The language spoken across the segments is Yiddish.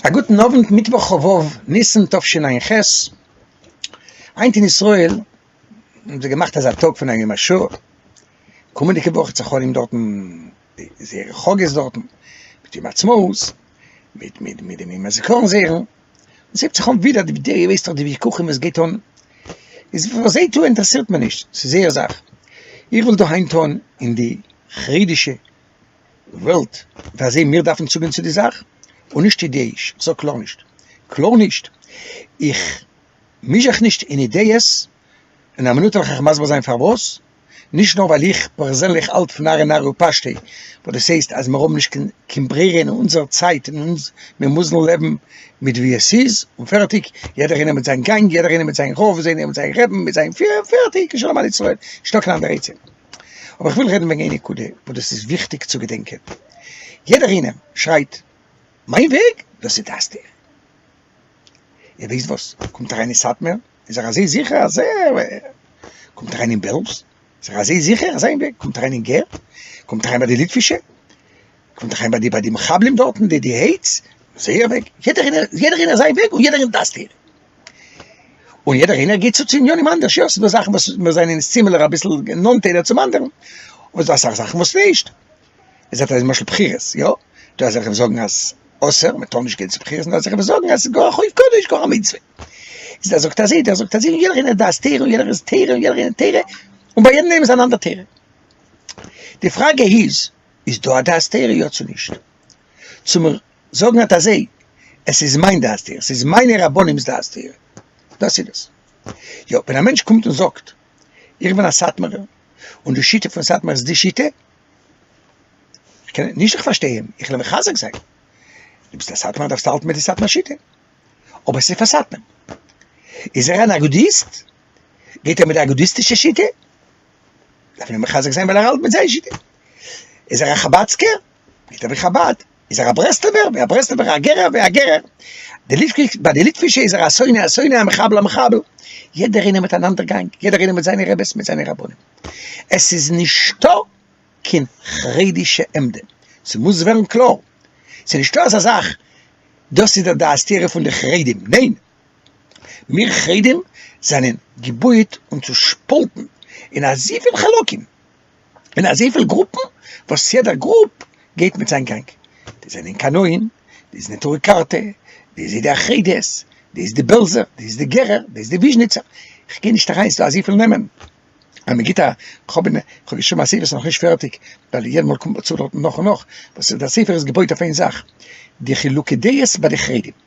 א גוטן אוונט, מיטוואך כ ו ניסן תשע ח, היינט אין ישראל האבן זיי געמאכט אזא טאג פון א יום השואה, קומענדיגע וואך וועט זיך האלען דארטן זייערע חאגעס דארטן, מיט יום העצמאות, מיט מיט מיט די ימי הזיכרון זערא, עס הייבט זיך אן ווידער די די ווייסט דאך די וויכוחים וואס גייט אן, איז וואס זיי טוען אינטערעסירט מיר נישט, ס'איז זייער זאך, איך וויל דא היינט טון אין די חרדישע וועלט פאר זיי מיר דארפן צוגיין צו די זאך און נישט אידעאיש איך זאג קלאר נישט קלאר נישט איך מיש זיך נישט אין אידעיעס אין א מינוט וועל איך אייך מסביר זיין פארוואס נישט נאר ווייל איך פערזענליך האלט פון ארי נארי ופשטי וואס דאס הייסט אז מיר האבן נישט קיין קיין ברירה אין אונזער צייט אין אונז מיר מוזן לעבן מיט ווי עס איז און פערטיג יעדער איינער מיט זיין גאנג יעדער איינער מיט זיין רב זיינער מיט זיין רעבן מיט זיין פירער פערטיג און שלום על ישראל נישטא קיין אנדערע עצה. אבער איך וויל רעדן וועגן איין נקודה וואס דאס איז וויכטיג צו געדענקען, יעדער איינעם שרייט מיין וועג דאס איז דעת תורה, איר ווייסט וואס קומט אריין אין סאטמער איז ער אזוי זיכער אז ער קומט אריין אין בעלז איז ער אזוי זיכער אז זיין וועג קומט אריין אין גער קומט אריין ביי די ליטווישע קומט אריין ביי די מחבלים דארטן די די העיטס זייער וועג יעדער איינער זיין וועג און יעדער איז דעת תורה. און יעדער איינער געבט צו צו עניינים אנדערש, יא, ס'דא זאכן וואס מיר זענען אונז סימילער אביסל נאנט איינער צום אנדערן, אבער ס'דא אסאך זאכן וואס נישט, איר זעט אז למשל בחירות, יא, דא אזעלכע וואס זאגן אז אסור, מען טאר נישט גיין צו בחירות, און דא אזעלכע וואס זאגן אז ס'איז גאר א חוב קדוש, גאר א מצוה, איז דער זאגט אזוי, דער זאגט אזוי, און יעדער איינער האט דעת תורה, און יעדער איז תורה, און יעדער איינער האט תורה, און ביי יעדן איינעם איז אן אנדער תורה. די פראגע איז, איז דא א דעת תורה יא צו נישט? צו מיר זאגן אט אזי, עס איז מיין דעת תורה, עס איז מיינע רבנים'ס דעת תורה, דאס איז דאס. יא, ווען א מענטש קומט און זאגט, איך בין א סאטמארער, און די שיטה פון סאטמאר איז די שיטה, איך קען נישט, איך פארשטיי אים, איך וויל אים מחזק זיין, דו ביסט א סאטמארער דארפסטו האלטן מיט די סאטמאר שיטה, אבער עס איז פאר סאטמאר. איז ער אן אגודיסט? גייט ער מיט די אגודיסטישע שיטה? דארף מען אים מחזק זיין ווייל ער האלט מיט זייער שיטה. איז ער א חבד'סקער? נישט אבי חבד, איז ער א ברסלבער, ווי א ברסלבער א גערער ווי א גערער, די ליטפישע ביי די ליטפישע איז ער א שונא א שונא א מחבל א מחבל, יעדער איינער מיט אן אנדער גאנג, יעדער איינער מיט זיינע רעבעס מיט זיינע רבנים, עס איז נישטא קיין חרדישע עמדה, ס'מוז ווערן קלאר, ס'איז נישטא אזא זאך דאס איז דער דעת תורה פון די חרדים, ניין! מיר חרדים זענען געבויעט און צושפאלטן אין אזויפיל חלקים. און אזויפיל גרופן וואס יעדער גרופ גייט מיט זיין גאנג, די זענען קנאים, די איז נטורי קרתא, די איז אידי החרדית, די איז די בעלזער, די איז די גערער, די איז די וויזשניצער, איך גיי נישט אריין, ס'דא אזויפיל נעמען, אז מ'גיט א, כ'האב אין, כ'האב געשריבן א ספר ס'איז נאכנישט פערטיג, ווייל יעדע מאל קומט מען צו דארטן נאך און נאך, וואס איז דער ספר איז געבויט אויף איין זאך, די חילוקי דעות ביי די חרדים.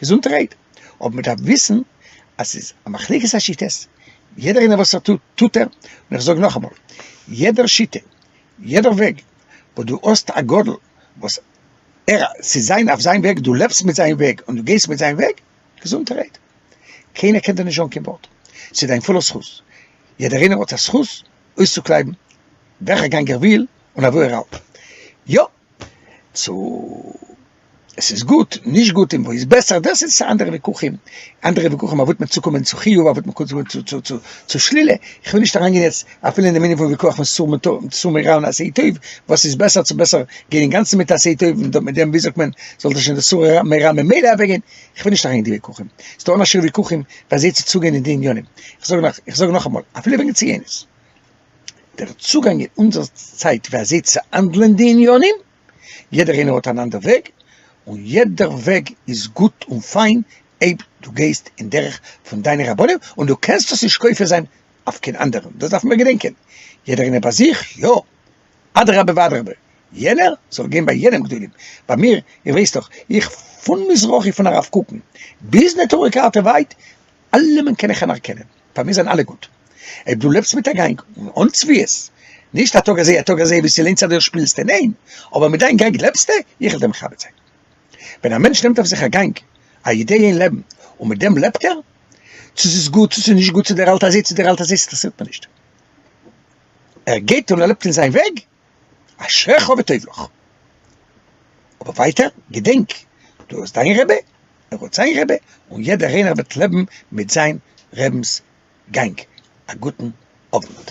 געזונט רעד, אבער מען דארף וויסן אז ס'איז א מחלוקת השיטות, יעדער איינער וואס ער טוט טוט ער, און איך זאג נאכאמאל, יעדער שיטה, יעדער וועג, וואס דו האסט א גדול וואס ער ס'איז זיין אויף זיין וועג, דו לעבסט מיט זיין וועג און דו גייסט מיט זיין וועג, געזונט רעד, קיינער קען דיר נישט זאגן קיין ווארט, ס'איז דיין פולער זכות, יעדער איינער האט א זכות אויסצוקלייבן וועלכע גאנג ער וויל און אוואו ער האלט, יא! צו עס איז גוט, נישט גוט, און וואו איז בעסער, דאס איז אנדערע וויכוחים, אנדערע וויכוחים אויב וועט מען צוקומען צו חיוב, אויב וועט מען צוקומען צו שלילה, איך וויל נישט אריינגיין יעצט אפילו אין דעם ענין פון וויכוח פון סור מרע און סור מרע און עשה טוב, וואס איז בעסער, צו בעסער גיין אינגאנצן מיט עשה טוב און מיט דעם, ווי זאגט מען, זאל דאס שוין דאס סור מרע ממילא אוועקגיין, איך וויל נישט אריינגיין אין די וויכוחים, ס'איז דא אנדערשערע וויכוחים ווי אזוי צו צוגיין אין די ענינים, איך זאג נאך, איך זאג נאכאמאל, אפילו וועגן ציונות. דער צוגאנג אין אונזער צייט ווי אזוי צו האנדלען די עניינים, יעדער איינער האט אן אנדער וועג, און יעדער וועג איז גוט און פיין אויב דו גייסט אין דרך פון דיינע רבנים, און דו קענסט עס נישט כופה זיין אויף קיין אנדערן, דאס דארפן מיר געדענקען, יעדער איינער ביי זיך, יא, אדרבה ואדרבה, יענער זאל גיין ביי יענעם גדולים, ביי מיר, איר ווייסט דאך, איך פון מזרחי פון הרב קוקן ביז נטורי קרתא ווייט, אלעמען קען איך אנערקענען, פאר מיר זענען אלע גוט. אויב דו לעבסט מיט א גענג און אן צביעות, נישט א טאג אזוי א טאג אזוי ווי ס'לוינט זיך דיר שפילסטו, ניין, אבער מיט דיין גענג לעבסטו, איך וועל דיר מכבד זיין. ווען א מענטש נעמט אויף זיך א גענג, א אידעיע אין לעבן, און מיט דעם לעבט ער, צו ס'איז גוט צו ס'איז נישט גוט, צו דער האלט אזוי צו דער האלט אזוי, ס'אינטערעסירט מיר נישט. ער גייט און ער לעבט אין זיין וועג, אשריך וטוב לך. אבער ווייטער, געדענק, דו האסט דיין רבי, ער האט זיין רבי, און יעדער איינער וועט לעבן מיט זיין רבינ'ס גאנג. א גוטן אוונט.